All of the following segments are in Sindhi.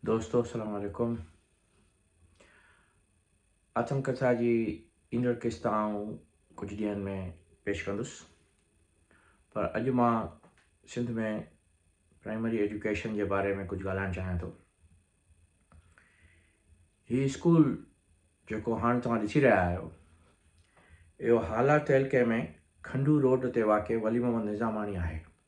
دوستو السلام عليڪم آتم ڪٿا جي ايندڙ قسط آئون ڪجهه ڏينهن ۾ پيش ڪندس پر اڄ مان سنڌ ۾ پرائمري ايجوڪيشن جي باري ۾ ڪجهه ڳالهائڻ چاهيان ٿو هي اسڪول جيڪو هاڻ توهان ڏسي رهيا آهيو اهو هالا تعلقي ۾ کنڊو روڊ تي واقع ولي محمد نظاماڻي آهي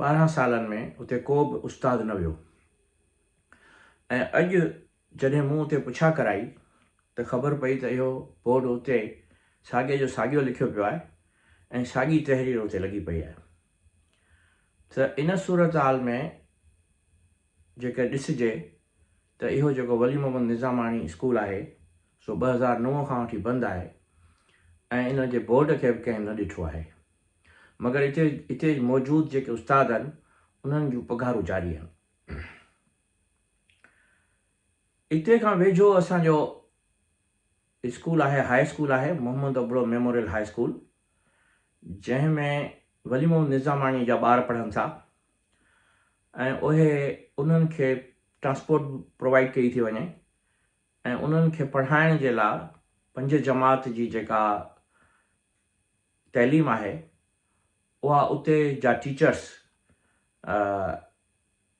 ٻارهن سالن ۾ اتي ڪو به استاد نه ويو ۽ اڄ جڏهن مون اتي پڇا ڪرائي ته خبر پئي ته اهو بورڊ اتي ساڳي جو ساڳيو لکيو پيو آهي ۽ ساڳي تحرير اتي لڳي پئي آهي ته ان صورتحال ۾ جيڪر ڏسجي ته اهو جيڪو ولي محمد نظاماڻي اسڪول آهي سو ٻه هزار نو کان وٺي بند آهي ۽ ان جي بورڊ کي به ڪنهن نه ڏٺو آهي مگر اتي اتي موجود جيڪي استاد آهن انهن جون پگهارون جاري آهن. اتي کان ويجهو اسان جو اسڪول آهي هاء اسڪول آهي Muhammad Abro memorial high school جنهن ۾ ولي محمد نظاماڻي جا ٻار پڙهن ٿا ۽ اهي انهن کي ٽرانسپورٽ پرووائيڊ ڪئي ٿي وڃي ۽ انهن کي پڙهائڻ جي لاء پنج جماعت جي جيڪا تعليم آهي اها اتي جا ٽيچرس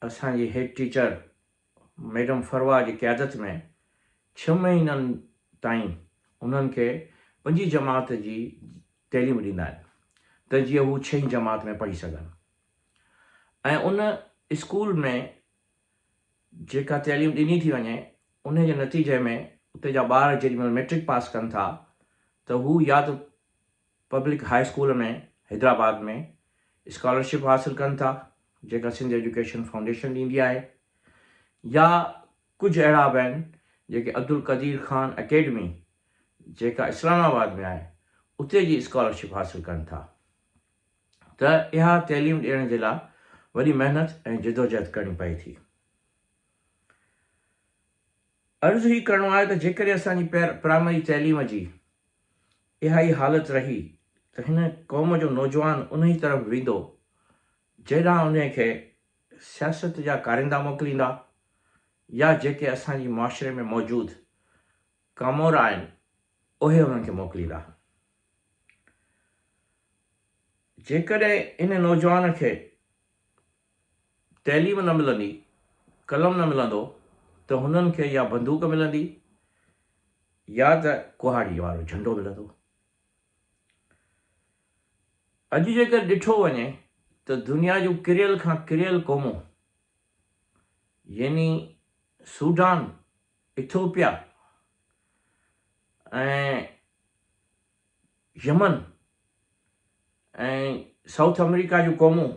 اسان جي هيڊ ٽيچر ميڊم فروا جي قيادت ۾ ڇهه مهينن تائين انهن کي پنجين جماعت جي تعليم ڏيندا آهن ته جيئن هو ڇهين جماعت ۾ پڙهي سگهن ۽ ان اسڪول ۾ جيڪا تعليم ڏني ٿي وڃي انهي جي نتيجي ۾ اتي جا ٻار جيڏي مهل مئٽرڪ پاس ڪن ٿا ته هو يا ته public high school ۾ Hyderabad ۾ scholarship حاصل ڪن ٿا جيڪا سنڌ ايجوڪيشن فائونڊيشن ڏيندي آهي يا ڪجهه اهڙا به آهن جيڪي عبدالقدير خان اڪيڊمي جيڪا اسلام آباد ۾ آهي اتي جي اسڪالرشپ حاصل ڪن ٿا. ته اها تعليم ڏيڻ جي لاء وڏي محنت ۽ جدوجهد ڪرڻي پئي ٿي. عرض هي ڪرڻو آهي ته جيڪڏهن اسان جي پرائمري تعليم جي اها ئي حالت رهي ته هن قوم جو نوجوان انهي طرف ويندو جنهن ڏانهن انهي کي سياست جا ڪاريندا موڪليندا يا جيڪي اسان جي معاشري ۾ موجود ڪامور آهن اهي انهن کي موڪليندا. جيڪڏهن ان نوجوان کي تعليم نه ملندي، قلم نه ملندو ته هنن کي يا بندوق ملندي يا ته ڪهاڙي وارو جهنڊو ملندو. اڄ جيڪر ڏٺو وڃي ته دنيا جون ڪريل کان ڪريل قومون يعني Sudan Ethiopia ۽ Yemen ۽ South America جون قومون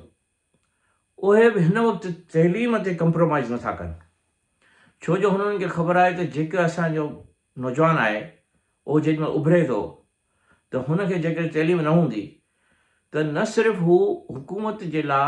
اهي به هن وقت تعليم تي ڪمپرومائز نٿا ڪن ڇو جو هنن کي خبر آهي ته جيڪو اسان جو نوجوان آهي اهو جيڏي مهل اڀري ٿو ته هن کي جيڪڏهن تعليم نه هوندي ته نه صرف هو حڪومت جي لاء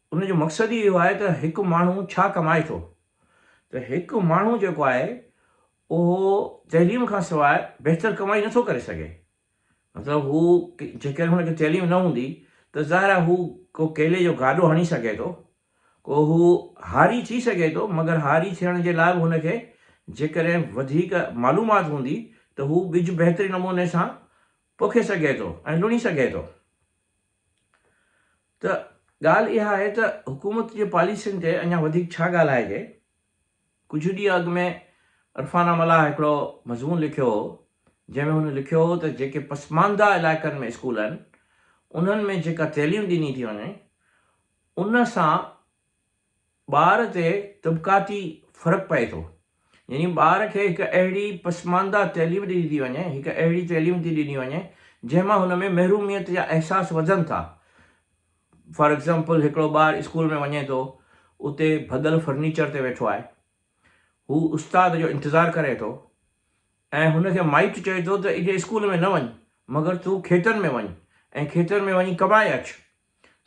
ان جو مقصد ئي اهو آهي ته هڪ ماڻهو ڇا ڪمائي ٿو؟ ته هڪ ماڻهو جيڪو آهي اهو تعليم کان سواء بهتر ڪمائي نٿو ڪري سگهي. مطلب هو جيڪڏهن هن کي تعليم نه هوندي ته ظاهر آهي هو ڪو ڪيلي جو گاڏو هڻي سگهي ٿو، ڪو هو هاري ٿي سگهي ٿو مگر هاري ٿيڻ جي لاء به هن کي جيڪڏهن وڌيڪ معلومات هوندي ته هو ٻج بهترين نموني سان پوکي سگهي ٿو ۽ لڻي سگهي ٿو. ته ڳالهه اها آهي ته حڪومت جي پاليسين تي اڃا وڌيڪ ڇا ڳالهائجي؟ ڪجهه ڏينهن اڳ ۾ عرفانه ملاح هڪڙو مضمون لکيو هو، جنهن ۾ هن لکيو هو ته جيڪي پسمانده علائقن ۾ اسڪول آهن، انهن ۾ جيڪا تعليم ڏني ٿي وڃي، ان سان ٻار تي طبقاتي فرق پئي ٿو. يعني ٻار کي هڪ اهڙي پسمانده تعليم ڏني ٿي وڃي، هڪ اهڙي تعليم ٿي ڏني وڃي جنهن مان هن ۾ محروميت جا احساس وڌن ٿا. فار ايگزامپل هڪڙو ٻار اسڪول ۾ وڃي ٿو اتي ڀڳل فرنيچر تي ويٺو آهي. هو استاد جو انتظار ڪري ٿو ۽ هن کي مائٽ چئي ٿو ته اڄ اسڪول ۾ نه وڃ مگر تون کيتن ۾ وڃ ۽ کيتن ۾ وڃي ڪمائي اچ.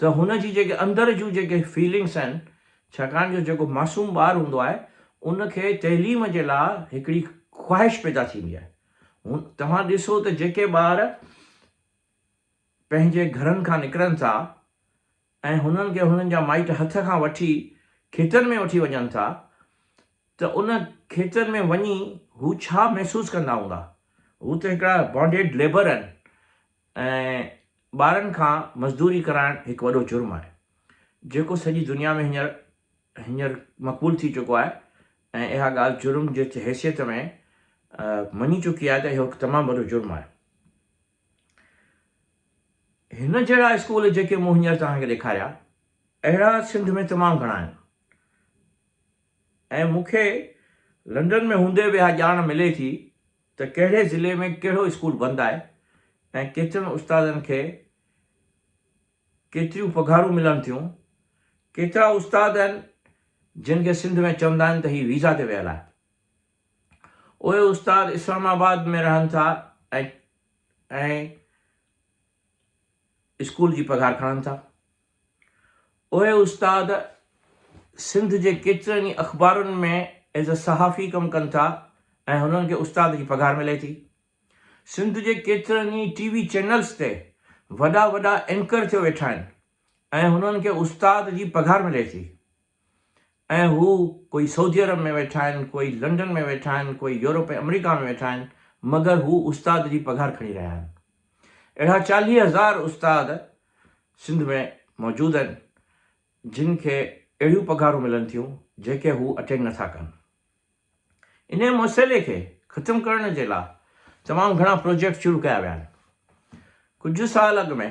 ته هن جي جيڪي اندر جون جيڪي فيلنگس آهن ڇاڪاڻ جو جيڪو معصوم ٻار هوندو آهي ان کي تعليم جي لا هڪڙي خواهش پيدا ٿيندي آهي هن توهان ڏسو ته جيڪي ٻار پنهنجي گهرن کان نڪرن ٿا ۽ هنن کي هنن جا مائٽ هٿ کان وٺي کيتن ۾ وٺي وڃن ٿا ته ان کيتن ۾ وڃي هو ڇا محسوس ڪندا هوندا هو ته هڪڙا بانڊيڊ ليبر آهن ۽ ٻارن کان مزدوري ڪرائڻ هڪ وڏو جرم آهي جيڪو سڄي دنيا ۾ هينئر هينئر مقبول ٿي چڪو آهي ۽ اها ڳالهه جرم جي حيثيت ۾ مڃي چڪي آهي ته اهو هڪ تمام وڏو جرم آهي. هن جهڙا اسڪول جيڪي مون هينئر توهان کي ڏيکاريا اهڙا سنڌ ۾ تمام گهڻا آهن. ۽ مون کي لنڊن ۾ هوندي به اها ڄاڻ ملي ٿي ته ڪهڙي ضلعي ۾ ڪهڙو اسڪول بند آهي ۽ ڪيترن استادن کي ڪيتريون پگهارون ملن ٿيون. ڪيترا استاد آهن جن کي سنڌ ۾ چوندا آهن ته هي ويزا تي ويل آهن. اهي استاد اسلام آباد ۾ رهن ٿا ۽ اسڪول جي پگهار کڻن ٿا. اهي استاد سنڌ جي ڪيترن ئي اخبارن ۾ ايز اي صحافي ڪم ڪن ٿا ۽ هنن کي استاد جي پگهار ملي ٿي. سنڌ جي ڪيترن ئي ٽي وي چينلز تي وڏا وڏا اينڪر ٿيو ويٺا آهن ۽ هنن کي استاد جي پگهار ملي ٿي. ۽ هو ڪوئي سعودي عرب ۾ ويٺا آهن، ڪوئي لنڊن ۾ ويٺا آهن، ڪوئي يورپ ۽ آمريڪا ۾ ويٺا آهن، مگر هو استاد جي پگهار کڻي رهيا آهن. اهڙا چاليهه هزار استاد سنڌ ۾ موجود آهن، جن کي اهڙيون پگهارون ملن ٿيون، جيڪي هو اٽينڊ نٿا ڪن. انهيء مسئلي کي ختم ڪرڻ جي لاء تمام گهڻا پروجيڪٽ شروع ڪيا ويا آهن. ڪجهه سال اڳ ۾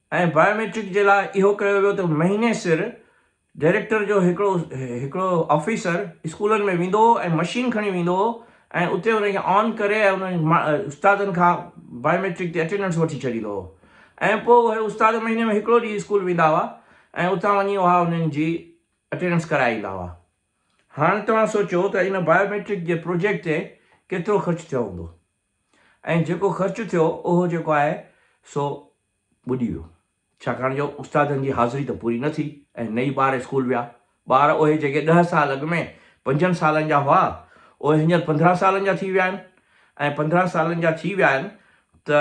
۽ بائيوميٽرڪ جي لاء اهو ڪيو ويو ته مهيني سر ڊائريڪٽر جو هڪڙو هڪڙو آفيسر اسڪولن ۾ ويندو هو ۽ مشين کڻي ويندو هو ۽ اتي ان کي آن ڪري ۽ انهن استادن کان بائيوميٽرڪ تي اٽينڊنس وٺي ڇڏيندو هو ۽ پوء اهي استاد مهيني ۾ هڪڙو ڏينهن اسڪول ويندا هئا ۽ اتان وڃي اها انهن جي اٽينڊنس ڪرائي ايندا هئا هاڻ توهان سوچو ته ان بائيوميٽرڪ جي پروجيڪٽ تي ڪيترو خرچ ٿيو هوندو ۽ جيڪو خرچ ٿيو اهو جيڪو آهي سو ٻڏي ويو، ڇاڪاڻ جو استادن جي حاضري ته پوري نه ٿي ۽ نه ئي ٻار اسڪول ويا. ٻار اهي جيڪي ڏهه سال اڳ ۾ پنجن سالن جا هئا، اهي هينئر پندرهن سالن جا ٿي ويا آهن ۽ پندرهن سالن جا ٿي ويا آهن ته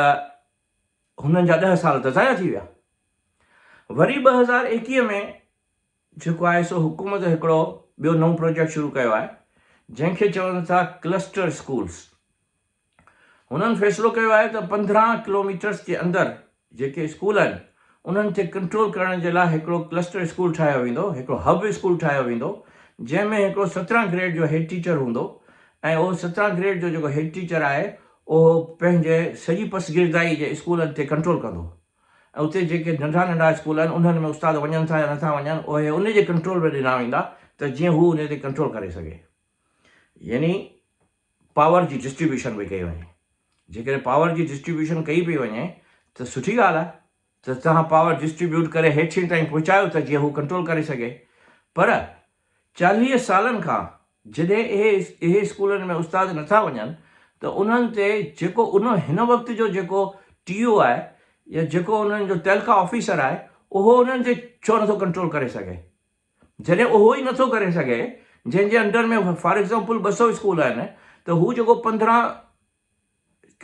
هنن جا ڏهه سال ته ضايع ٿي ويا. وري ٻه هزار ايڪيهه ۾ جيڪو آهي سو حڪومت هڪڙو ٻيو نئون پروجيڪٽ شروع ڪيو آهي، جنهن کي چون ٿا ڪلسٽر اسڪولز. هنن فيصلو ڪيو آهي ته پندرهن ڪلوميٽرس جي اندر جيڪي اسڪول آهن انهن کي ڪنٽرول ڪرڻ جي لاء هڪڙو ڪلسٽر اسڪول ٺاهيو ويندو، هڪڙو هب اسڪول ٺاهيو ويندو جنهن ۾ هڪڙو سترهن گريڊ جو هيڊ ٽيچر هوندو ۽ اهو سترهن گريڊ جو جيڪو هيڊ ٽيچر آهي اهو پنهنجي سڄي پسگردائي جي اسڪولن تي ڪنٽرول ڪندو ۽ اتي جيڪي ننڍا ننڍا اسڪول آهن انهن ۾ استاد وڃن ٿا يا نٿا وڃن اهي ان جي ڪنٽرول ۾ ڏنا ويندا ته جيئن هو انهي تي ڪنٽرول ڪري سگهي يعني پاور جي ڊسٽريبيوشن پئي ڪئي وڃي جيڪڏهن پاور جي ڊسٽريبيوشن ڪئي پئي وڃي ته سٺي ڳالهه آهي ته توهان پاور ڊسٽريبيوٽ ڪري هيٺين تائين پهچايو ته جيئن هو ڪنٽرول ڪري سگهي پر چاليهه سالن کان جڏهن اهي اهي اسڪولن ۾ استاد نٿا وڃن ته انهن تي جيڪو ان هن وقت جو جيڪو ٽي او آهي يا جيڪو انهن جو ٽيلڪا آفيسر آهي اهو انهن تي ڇو نٿو ڪنٽرول ڪري سگهي. جڏهن اهو ئي نٿو ڪري سگهي جنهن جي انڊر ۾ فار ايگزامپل ٻه سؤ اسڪول آهن ته هو جيڪو پندرهن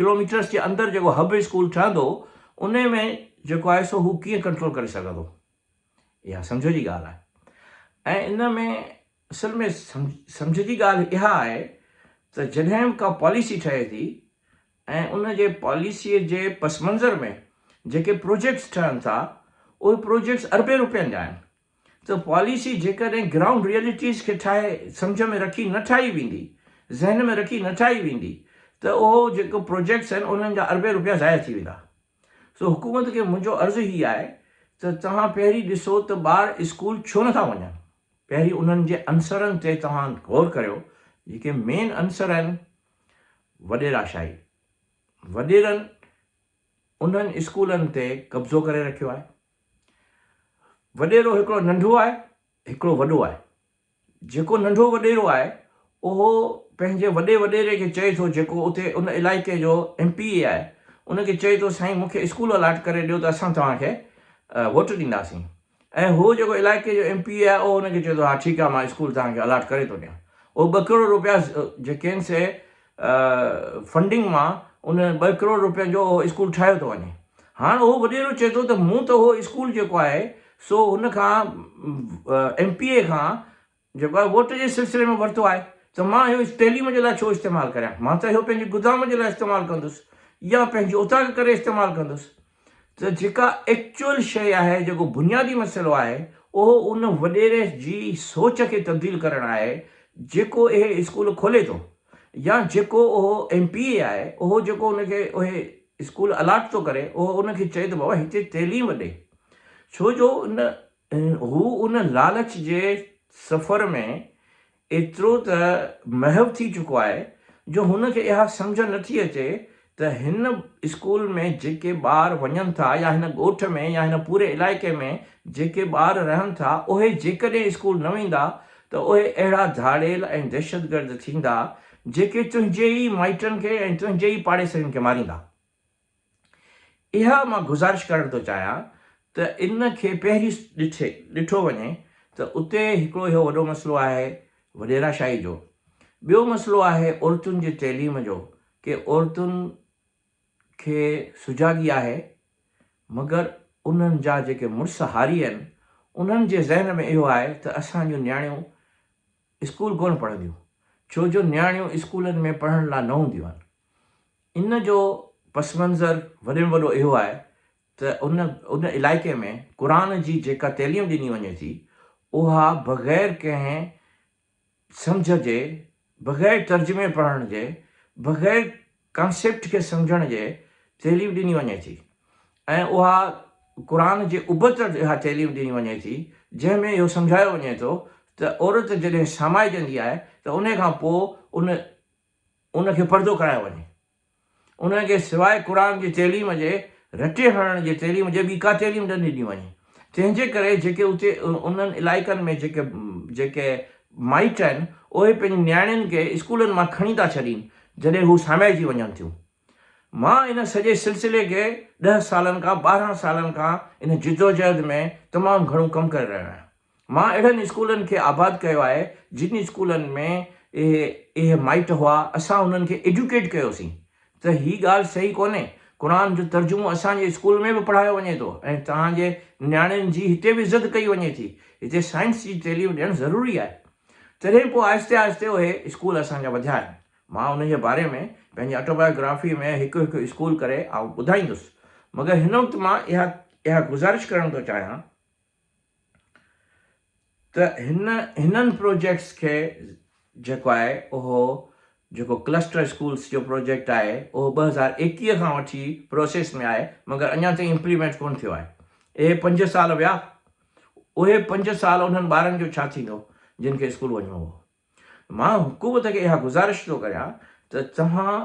ڪلوميٽرس جي اندر جيڪو هب اسڪول ٺهندو ان ۾ جيڪو آهي سو هو ڪيئن ڪنٽرول ڪري سگهندو اها سمجهه جي ڳالهه آهي ۽ ان ۾ اصل ۾ سمجهه جي ڳالهه اها آهي ته جڏهن به ڪا پاليسي ٺهي ٿي ۽ ان جي پاليسيء جي پس منظر ۾ جيڪي پروجيڪٽس ٺهن ٿا اهي پروجيڪٽس اربين روپين جا آهن ته پاليسي جيڪڏهن گرائونڊ ريئلٽيز کي ٺاهي سمجهه ۾ رکي نه ٺاهي ويندي، ذهن ۾ رکي نه ٺاهي ويندي ته اهو جيڪو پروجيڪٽس آهن انهن جا اربين روپيا ضايع ٿي ويندا. سو حڪومت کي منهنجو عرض هي آهي ته توهان پهرين ڏسو ته ٻار اسڪول ڇو نٿا وڃن، پهرين انهن جي عنصرن تي توهان غور ڪريو جيڪي مين عنصر آهن، وڏيراشاهي، وڏيرن انهن اسڪولن تي قبضو ڪري رکيو آهي. وڏيرو هڪڙو ننڍو آهي هڪڙو وڏو آهي جيڪو ننڍو وڏيرو آهي اهو پنهنجي وڏي وڏيري کي چئي ٿو جيڪو اتي ان علائقي جو ايم پي اي آهي ان کي چئي ٿو سائين مونکي اسڪول الاٽ ڪري ڏيو ته اسان توهان کي ووٽ ڏينداسين ۽ هو جيڪو علائقي جو ايم پي اي آهي اهو ان کي چئي ٿو ها ٺيڪ آهي مان اسڪول توهان کي الاٽ ڪري ٿو ڏيان اهو ٻه ڪروڙ روپيا جيڪي آهن سي فنڊنگ مان ان ٻه ڪروڙ روپين جو اهو اسڪول ٺاهيو ٿو وڃي هاڻ اهو وڏيرو چئي ٿو ته مون ته اهو اسڪول جيڪو آهي سو هن کان ايم پي اي کان جيڪو آهي ووٽ جي سلسلي ۾ ورتو آهي ته مان اهو تعليم جي لاء ڇو استعمال ڪريان مان ته اهو پنهنجي گدام جي لاء استعمال ڪندس يا پنهنجي اوطاق ڪري استعمال ڪندس ته جيڪا ايڪچوئل شيء آهي، جيڪو بنيادي مسئلو آهي، اهو ان وڏيري جي سوچ کي تبديل ڪرڻ آهي، جيڪو اهي اسڪول کولي ٿو يا جيڪو اهو ايم پي اي آهي، اهو جيڪو ان کي اهي اسڪول الاٽ ٿو ڪري، اهو ان کي چئي ته بابا هتي تعليم ڏي. ڇو جو ان هو ان لالچ جي سفر ۾. ايترو ته محو ٿي چڪو آهي جو هن کي اها سمجهه نه ٿي اچي ته هن اسڪول ۾ جيڪي ٻار وڃن ٿا يا هن ڳوٺ ۾ يا هن پوري علائقي ۾ جيڪي ٻار رهن ٿا اهي جيڪڏهن اسڪول نه ويندا ته اهي اهڙا ڌاڙيل ۽ دهشتگرد ٿيندا جيڪي تنهنجي ئي مائٽن کي ۽ تنهنجي ئي پاڙيسرين کي ماريندا. اها مان گذارش ڪرڻ ٿو چاهيان ته ان کي پهرين ڏٺي ڏٺو وڃي ته اتي هڪڙو اهو وڏو مسئلو آهي وڏيرا شاهي جو، ٻيو مسئلو آهي عورتن جي تعليم جو ڪي عورتن کي سجاڳي آهي مگر انهن جا جيڪي مڙس هاري آهن انهن جي ذهن ۾ اهو آهي ته اسان جون نياڻيون اسڪول ڪونه پڙهنديون ڇو جو نياڻيون اسڪولن ۾ پڙهڻ لا نه هونديون آهن. ان جو پس منظر وڏي ۾ وڏو اهو آهي ته ان ان علائقي ۾ قرآن جي جيڪا تعليم ڏني وڃي ٿي اها بغير ڪنهن سمجهه جي بغير ترجمي پڙهڻ جي بغير ڪانسيپٽ کي سمجهڻ جي تعليم ڏني وڃي ٿي ۽ اها قرآن جي ابتڙ اها تعليم ڏني وڃي ٿي جنهن ۾ اهو سمجهايو وڃي ٿو ته عورت جڏهن سامائجندي آهي ته ان کان پوء ان ان کي پڙهندو ڪرايو وڃي. انهن کي سواء قرآن جي تعليم جي رٽي هڻڻ جي تعليم جي ٻي ڪا تعليم نه ڏني وڃي. تنهن جي ڪري جيڪي اتي انهن علائقن ۾ جيڪي جيڪي مائٽ آهن اهي پنهنجي نياڻين کي اسڪولن مان کڻي ٿا ڇڏين جڏهن هو ساميائجي وڃن ٿيون. مان ان سڄي سلسلي کي ڏهه سالن کان ٻارهن سالن کان ان جدوجهد ۾ تمام گهڻو ڪم ڪري رهيو آهيان. مان اهڙن اسڪولن کي آباد ڪيو آهي جن اسڪولن ۾ اهي اهي مائٽ هئا اسان انهن کي ايڊيوڪيٽ ڪيو سين ته هي ڳالهه صحيح ڪونهي قرآن جو ترجمو اسان جي اسڪول ۾ به پڙهايو وڃي ٿو ۽ توهان جي نياڻين جي هتي به عزت ڪئي وڃي ٿي هتي سائنس جي تعليم ڏيڻ ضروري آهي تڏهن پوء آهستي آهستي اهي اسڪول اسان جا وڌيا آهن مان انهيء باري ۾ پنهنجي آٽوبايوگرافيء ۾ هڪ هڪ اسڪول ڪري آئون ٻڌائيندس، مگر هن وقت مان اها اها گذارش ڪرڻ ٿو چاهيان ته هن هنن پروجيڪٽس کي جيڪو آهي اهو جيڪو ڪلسٽر اسڪولس جو پروجيڪٽ آهي اهو ٻه هزار ايڪيهه کان وٺي پروسيس ۾ آهي مگر اڃا تائين امپليمينٽ ڪونه ٿيو آهي اهي پنج سال ويا اهي پنج سال انهن ٻارن جو ڇا ٿيندو جن کي اسڪول وڃڻو هو. مان حڪومت کي اها گذارش ٿو ڪريان ته توهان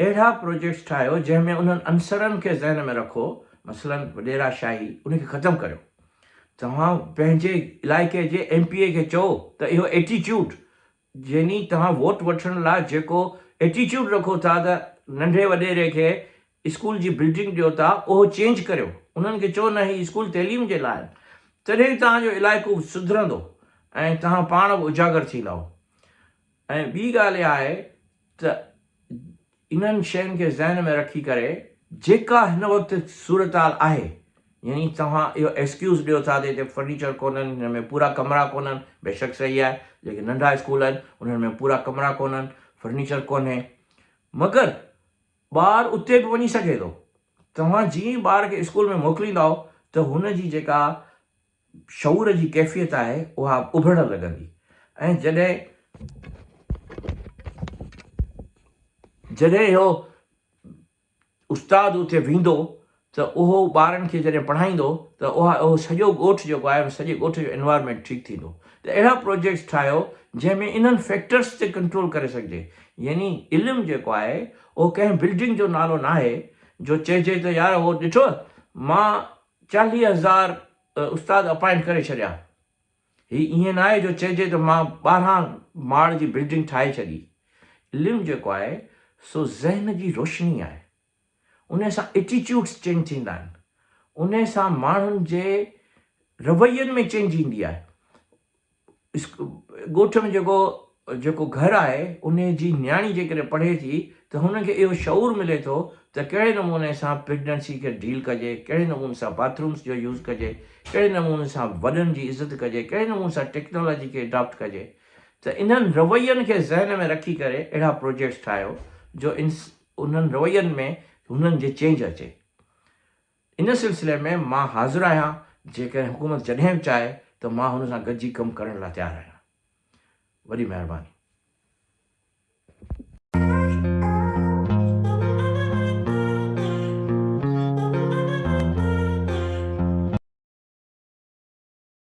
اهڙا پروجيڪٽس ٺاهيو جنهن ۾ انهن عنصرن کي ذهن ۾ رکو مثلا وڏيرا شاهي ان کي ختم ڪريو توهان پنهنجي علائقي جي ايم پي اي کي چئو ته اهو ايٽيچوڊ يعني توهان ووٽ وٺڻ لاء جيڪو ايٽيچوڊ رکو ٿا ته ننڍي وڏيري کي اسڪول جي بلڊنگ ڏيو ٿا اهو چينج ڪريو انهن کي چئو نه هي اسڪول تعليم جي لاء آهن تڏهن ئي توهان جو علائقو سڌرندو ۽ توهان پاڻ به اجاگر ٿيندائو ۽ ٻي ڳالهه اها آهي ته انهن شين کي ذهن ۾ رکي ڪري جيڪا هن وقت صورتحال آهي يعني توهان اهو ايڪسڪيوز ڏيو ٿا ته هتي فرنيچر ڪونهن هن ۾ پورا ڪمرا ڪونهن بيشڪ صحيح آهي جيڪي ننڍا اسڪول آهن انهن ۾ پورا ڪمرا ڪونهن فرنيچر ڪونهي مگر ٻار اتي به وڃي سگهي ٿو. توهان جيئن ئي ٻار کي اسڪول ۾ موڪليندائو ته هن جي جيڪا شعور جي ڪيفيت آهي اها اڀرڻ لڳندي ۽ جڏهن جڏهن اهو استاد اتي ويندو ته اهو ٻارن کي جڏهن پڙهائيندو ته اها اهو سڄو ڳوٺ جيڪو آهي ان سڄي ڳوٺ جو انوائرمينٽ ٺيڪ ٿيندو ته اهڙا پروجيڪٽس ٺاهيو جنهن ۾ انهن فيڪٽرس تي ڪنٽرول ڪري سگهجي يعني علم جيڪو آهي اهو ڪنهن بلڊنگ جو نالو ناهي جو چئجي ته يار اهو ڏٺوء مان چاليهه هزار استاد اپائنٽ ڪري ڇڏيا هي ائين ناهي جو چئجي ته مان ٻارهن ماڙ جي بلڊنگ ٺاهي ڇڏي علم جيڪو آهي سو ذهن جي روشني آهي. انهي سان ائٽيٽيوڊس چينج ٿيندا آهن، انهي سان ماڻهن جي روين ۾ چينج ايندي آهي، ڳوٺ ۾ جيڪو جيڪو گهر آهي انهي جي نياڻي جيڪڏهن پڙهي ٿي ته هن کي اهو شعور ملي ٿو ته ڪهڙي نموني سان پريگنينسي کي ڊيل ڪجي، ڪهڙي نموني سان باٿرومس جو يوز ڪجي، ڪهڙي نموني سان وڏن جي عزت ڪجي، ڪهڙي نموني سان ٽيڪنالاجي کي اڊاپٽ ڪجي ته انهن روين کي ذهن ۾ رکي ڪري اهڙا پروجيڪٽس ٺاهيو جو انهن روين ۾ هنن جي چينج اچي. ان سلسلي ۾ مان حاضر آهيان جيڪڏهن حڪومت جڏهن به چاهي ته مان هن سان گڏجي ڪم ڪرڻ لاء تيار آهيان. وڏي مهرباني.